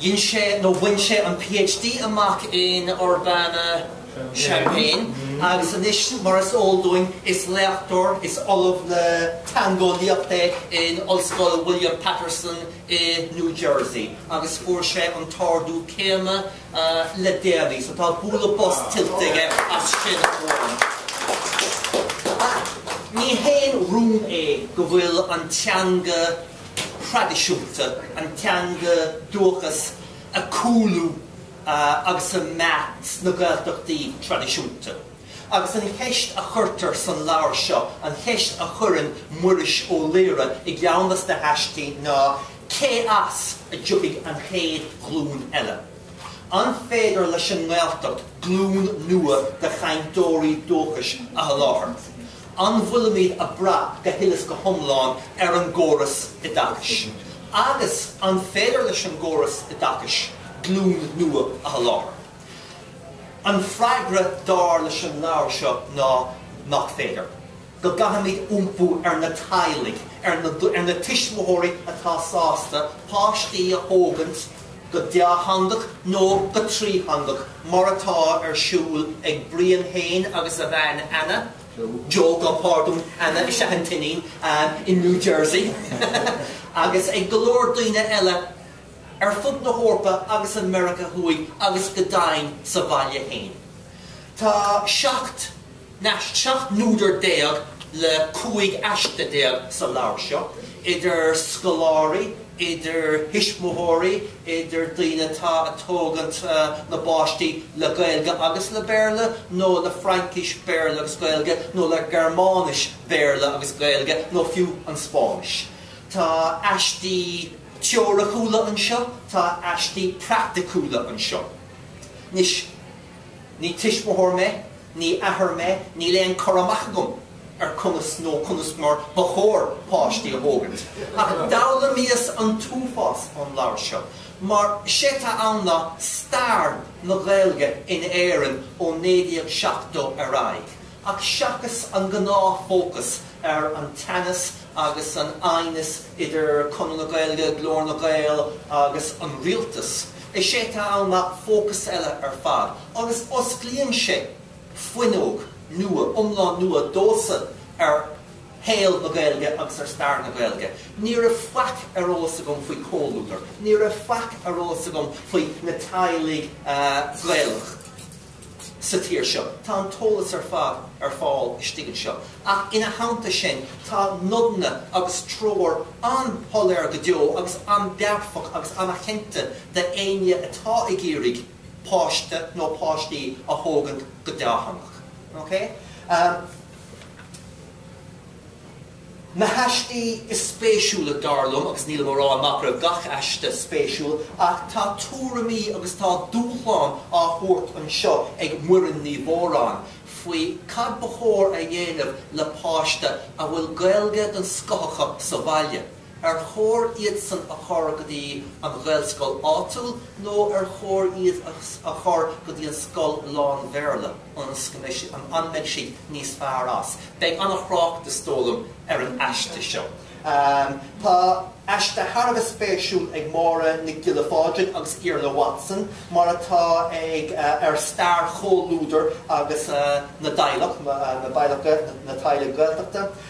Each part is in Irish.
Dhein sé nó bhain sé an PhD amach in Urbana-Champaign agus anois mar is eol dúinn is léachtóir is ollamh le teangeolaíocht é in Ollscoil William Paterson i New Jersey agus fuair sé an t-ardú céime le déanaí so tá bualadh bos tuillte aige as sin. Ní haon rún é go bhfuil an teanga thraidisiúnta, an teanga dúchais ag cúlú agus ag meath sna Gaeltachtaí traidisiúnta. Agus an cheist a chuirtear sa leabhar seo, an cheist a chuireann Muiris Ó Laoire i gceann de sna haistí ná Cé as a dtiocfaidh an chéad ghlúin eile? An féidir leis an nGaeltacht glúin nua de chainteoirí dúchais a sholáthar? An bhfuilimid ag brath go huile is go hiomlán ar an gcóras oideachais? Agus an féidir leis an gcóras oideachais glúin nua a sholáthar? An freagra dar leis an leabhar seo ná nach féidir. Go gcaithfimid iompú ar na teaghlaigh, ar na tuismitheoirí atá sásta páistí a thógaint, go dátheangach nó go trítheangach mar atá ar siúl ag Brian féin agus a bhean Anna, Joe, gabh pardún, Anna is ea an t-iníon, in New Jersey agus ag go leor daoine eile ar fud na hEorpa agus i Meiriceá Thuaidh agus go deimhin sa bhaile féin. Tá seacht. Nó 17 n-údar le 15 aiste sa leabhar seo, idir scoláirí, idir thuismitheoirí, idir daoine atá ag tógaint na bpáistí le Gaeilge agus le Béarla, nó le Fraincis, Béarla agus Gaeilge, nó le Gearmáinis, Béarla agus Gaeilge, nó fiú an Spáinnis. Tá aistí teoiriciúla anseo, tá aistí praiticiúla anseo. Anois. Ní tuismitheoir mé, ní athair mé, níl aon cur amach agam ar conas nó conas mar ba chóir páistí a thógaint. Ach d'fhoghlaimíos an t-uafás ón leabhar seo, mar is é atá ann ná stair na Gaeilge in Éirinn ó 1970 ar aghaidh, Ach seachas an gnáth fócas ar an teannas agus an aighneas idir Conradh na Gaeilge, Glór na nGael agus an Rialtas, is é atá ann ná fócas eile ar fad agus osclaíonn sé fuinneog nua, iomlán nua domhsa ar shaol na Gaeilge agus ar stair na Gaeilge. Ní raibh faic ar eolas agam faoi Chomhluadar, ní raibh faic ar eolas agam faoi na teaghlaigh Ghaelacha. sa tír seo. Tá an t-eolas ar fad ar fáil istigh anseo. Ach ina theannta sin tá nodanna agus treoir an-shoiléir go deo agus an-dearfach agus an-chinnte d'éinne atá ag iarraidh páiste nó páistí a thógaint go dátheangach. OK? Na haistí is spéisiúla dar liom, agus nílim á rá nach raibh gach aiste spéisiúil, ach tá tuairimí agus tá dúshlán á thabhairt anseo ag Muireann Ní Mhóráin faoi cad ba chóir a dhéanamh le páiste a bhfuil Gaeilge den scoth acu sa bhaile. Ar chóir iadsan a chur go dtí an Ghaelscoil áitiúil nó ar chóir iad a chur go dtí an scoil lán-Bhéarla, an mbeidh siad níos fearr as? Beidh an-thrácht, is dóigh liom, ar an aiste seo. Tá aiste thar a bheith spéisiúil ag Máire Nic Giolla Phádraig agus Iarla Watson, mar atá ag, ar stair Chomhluadar agus na dteaghlach, na dteaghlach, na teaghlaigh Ghaeltachta.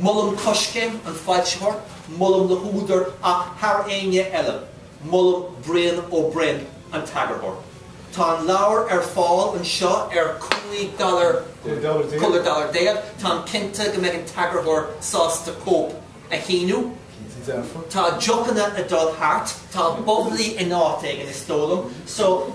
Molaim Coiscéim, an foilsitheoir, molaim na húdair ach thar éinne eile, molaim Brian Ó Broin, an t-eagarthóir. Tá an leabhar ar fáil anseo ar cúig dollar, cúig dollar déag. Táim cinnte go mbeidh an t-eagarthóir sásta cóip a shíniú. Tá deochanna ag dul thart. Tá bubbly in áit éigin, is dóigh liom. So.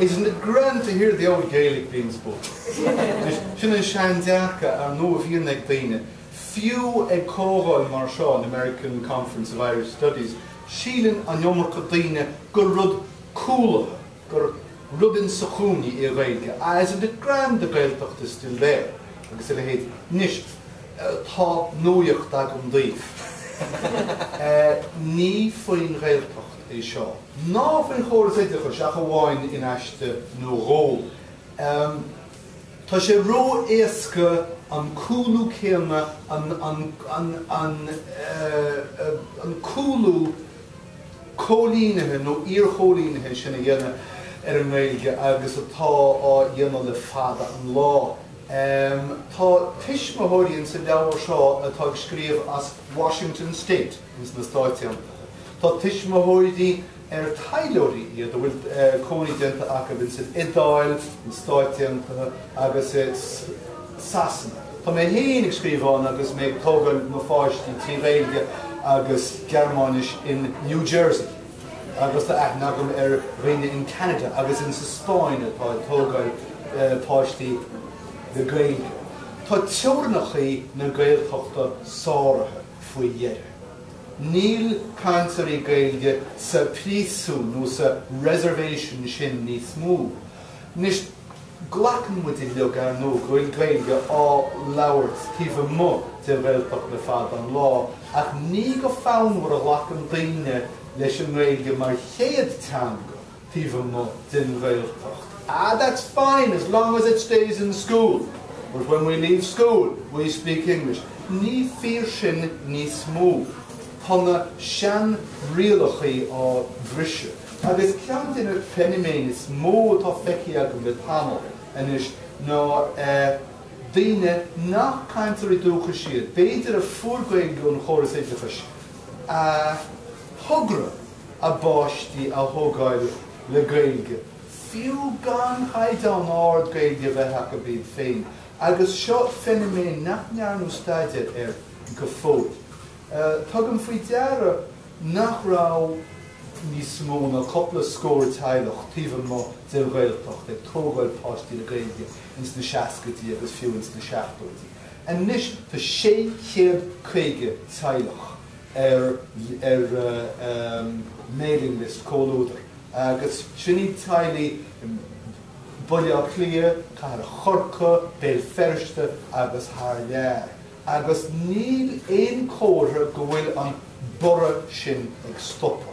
Isn't it grand to hear the old Gaelic being spoken. Anois, sin an sean-dearcadh, ar ndóigh, a bhíonn ag daoine, fiú ag comhdháil mar seo, an American Conference for Irish Studies, síleann an iomarca daoine gur rud cúlaithe, gur rud in sa chúinne í an Ghaeilge, ah, isn't it grand the Gaeltacht is still there, agus a leithéid. Anois, tá nuaíocht agam daoibh. Ní faoin Ghaeltacht. é seo, ná faoin chóras oideachais ach amháin in aiste nó dhó. Tá sé ró-éasca an cúlú céanna, an cúlú cóilínithe nó iar-chóilínithe sin a dhéanamh ar an nGaeilge agus atá á dhéanamh le fada an lá. Tá tuismitheoirí insa leabhar seo atá ag scríobh as Washington State. ins na Stáit Aontaithe. Tá tuismitheoirí, ar taidhleoirí iad, a bhfuil cónaí déanta acu ins an Iodáil, na Stáit Aontaithe agus i Sasana. Tá mé féin ag scríobh ann agus mé ag tógáil mo pháistí trí Ghaeilge agus Gearmáinis in New Jersey. Agus tá aithne agam ar dhaoine in Canada agus ins an Spáinn atá ag tógáil páistí le Gaeilge. Tá teorainneachaí na Gaeltachta sáraithe. faoi dheireadh. Níl cainteoirí Gaeilge sa phríosún nó sa 'reservation' sin níos mó. Anois, glacann muid uilig, ar ndóigh, go bhfuil Gaeilge á labhairt taobh amuigh den Ghaeltacht le fada an lá ach ní go fonnmhar a ghlacann daoine leis an nGaeilge mar chéad teanga. taobh amuigh den Ghaeltacht. Ah, that's fine as long as it stays in school but when we leave school we speak English. Ní fíor sin níos mó. Tá na seanrialachaí á mbriseadh. Agus ceann de na feiniméin is mó atá feicthe agam le tamall anois ná eh, daoine nach cainteoirí dúchais iad, b'fhéidir a fuair Gaeilge ón chóras oideachais, a thogair. a bpáistí a thógáil le Gaeilge, fiú gan chaighdeán ard Gaeilge a bheith acu iad féin, agus seo feiniméan nach ndearnadh staidéar air go fóill. Tugaim faoi deara nach raibh níos mó ná cupla scór teaghlach taobh amuigh den Ghaeltacht ag tógáil páistí le Gaeilge ins na seascaidí agus fiú ins na seachtóidí. Anois tá 650 teaghlach. ar mailing list Comhluadar, agus sin iad teaghlaigh Bhaile Átha Cliath, Cathair Chorcaí, Béal Feirste agus thar lear. Agus níl aon comhartha go bhfuil an borradh sin ag stopadh.